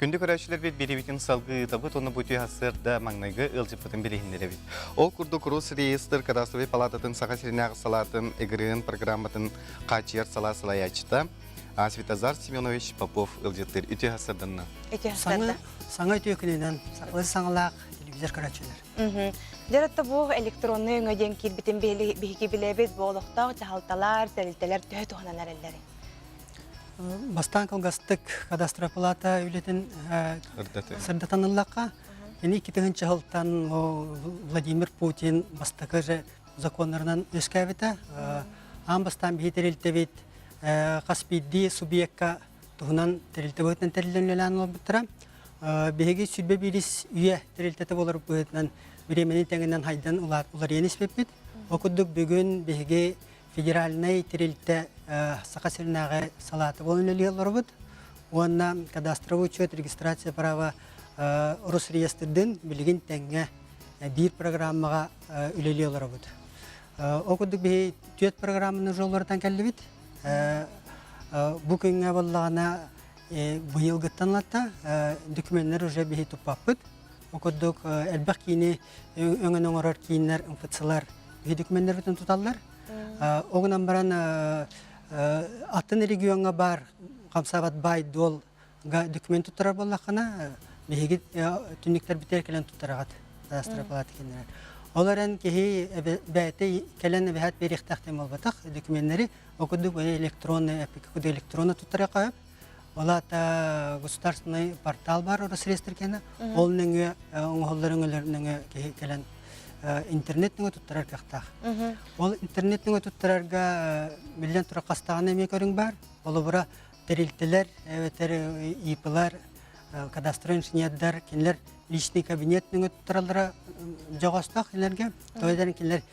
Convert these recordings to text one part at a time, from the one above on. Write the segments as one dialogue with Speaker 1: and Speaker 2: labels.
Speaker 1: Күндү көрөөччүлэрбит бириибитин салгыы ыытабыт уонна бу түһэрсэр да маҥнайгы ыалдьыппытын билиһиннэрэбит. Ол курдук Рус реестр кадастровый палататын саха сиринээх салаатын ИГРИН программатын хааччыйар салаа салайааччыта Светозар Семенович Попов ыалдьыттыр үтүһасырданна. Саҥа,
Speaker 2: саҥа үтүөкүнүнэн сахалыы саҥалаах телевизор көрөөччүлэр. Дэрэтте бу
Speaker 3: электронный өңө диэн киирбитин биһики билэбит, бу олохтоох дьаһалталар, тэрилтэлэр төһө туһанан эрэллэрин.
Speaker 2: бастаан кылгастык кадастропалата үлэтин сырдатаныллахха ини икки тыһынча сылтан Владимир Путин бастакы же законнарынан үөскээбитэ аан бастаан биһи тэрилтэбит хас биирдии субъекка туһунан тэрилтэ быһыытынан тэрилинэлээн олорбуттара биһиги сүрбэ биирис үйэ тэрилтэтэ болор быһыытынан бириэмэни тэҥинэн хайдан уларыйан испиппит ол курдук бүгүн биһиги федеральнай тэрилтэ Саха сиринээҕи салаата буолан үлэлии олоробут уонна кадастровый учет регистрация права Росреестрдын билигин тэҥҥэ биир программаҕа үлэлии олоробут. Ол курдук биһи түөрт программаны жоллорутан кэллибит. Бу күҥҥэ буоллаҕына быйылгыттан латта документтар уже биһи туппаппыт. Ол курдук элбэх киини өҥөн оҥорор кииннэр, МФЦ-лар биһи документнарбытын туталлар. Ол гынан баран атын региоҥҥа баар хамсаабат баай-дуолга документ туттарар буоллаххына, биһиги түннүктэрбитигэр кэлэн туттараҕыт астропалата кэннэрэн. Ол эрэн киһи бэйэтэ кэлэн эбэһэт биэриэхтээх буолбатах докуменнэри ол курдук электронный эпика куды электронно туттарыахха Ол аата государственный портал бар Росреестр кена. Ол нөҥө оҥоһуллар өҥөлөр нөҥө киһи кэлэн интернет нөҥө туттарар кахтаах. Ол интернет нөҥө туттарарга биллэн турар хастаҕына эмиэ көрүҥ бар. Олобура тэрилтэлэр эбэтэр ИП-лар, кадастровый инженердар кинилэр личный кабинет нөҥө туттараллара жоҕостоох кинилэргэ. Тойдан кинилэр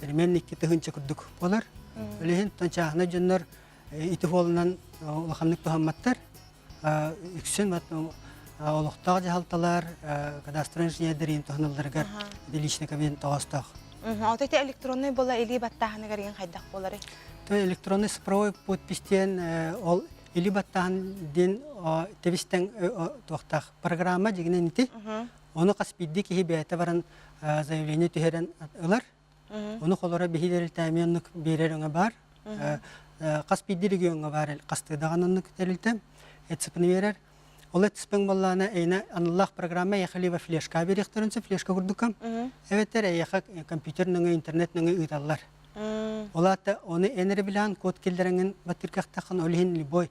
Speaker 2: Тэринэн икки тыһынча курдук болар. Үлэһин тончааһына дьоннор ити хуолунан улаханнык туһамматтар. Үксүн олохтоох дьаһалталар кадастр инженердэрин туһаналларыгар личниковин тоҕоостоох. Ото те
Speaker 3: электронный была или баттааһаны гарыгын хайдах болары? То электронный
Speaker 2: цифровой подпись диэн ол или баттааһын диэн тэбистен туохтаах программа дигинен ити Ону хас биирдии киһи бэйэтэ баран заявление түһэрэн ылар. Ону холоро биһиилэритээми оннук биэрэр өҥө баар. Хас биирдии региоҥҥа баар хастыыдаҕан оннук тэрилтэ ЭЦПны биэрэр. Ол ЭЦПн боллаана эйна аналлаах программа эйэхэ во флешка бериэхтэрин се флешка курдукка. Эбэтэр эйэхэ компьютер нөҥө интернет нөҥө ыыталлар. Олаата оны энереблаан код келлереңин баттыркахтахан ол иһин любой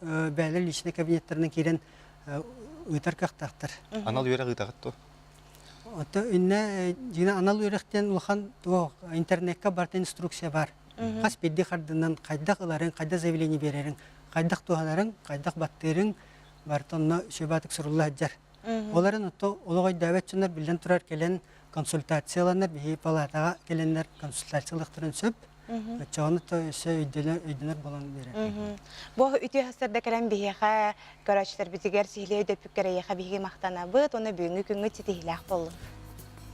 Speaker 2: бэйэлэр личнэй кабинеттарынан киирэн ыытар кыахтаахтар. Анал үөрэх ыытаҕыт
Speaker 1: дуо? Оттон
Speaker 2: иннэ дьиҥэ анал үөрэх диэн улахан интернекка барытын инструкция бар. Хас бирдии хардынан хайдах ыларыҥ, хайдах заявление биэрэриҥ, хайдах туһанарыҥ, хайдах баттыырыҥ барыта онно сөбө атык сурулла сылдьар. Олорон отто олох ойдөөбөт дьоннор биллэн турар кэлэн консультацияланар биһи палатаҕа келеннер консультациялыктарын сөп оччоҕуна то өссө өйдөнөр өйдөнөр болон берер бу үтүөһастарда
Speaker 3: кэлэн биһиэхэ көрөөччүлэрбитигэр сиһилиэ өйдөппүккэр эйиэхэ биһиги махтанабыт уонна бүгүҥҥү күҥҥүт ситиһилээх боллун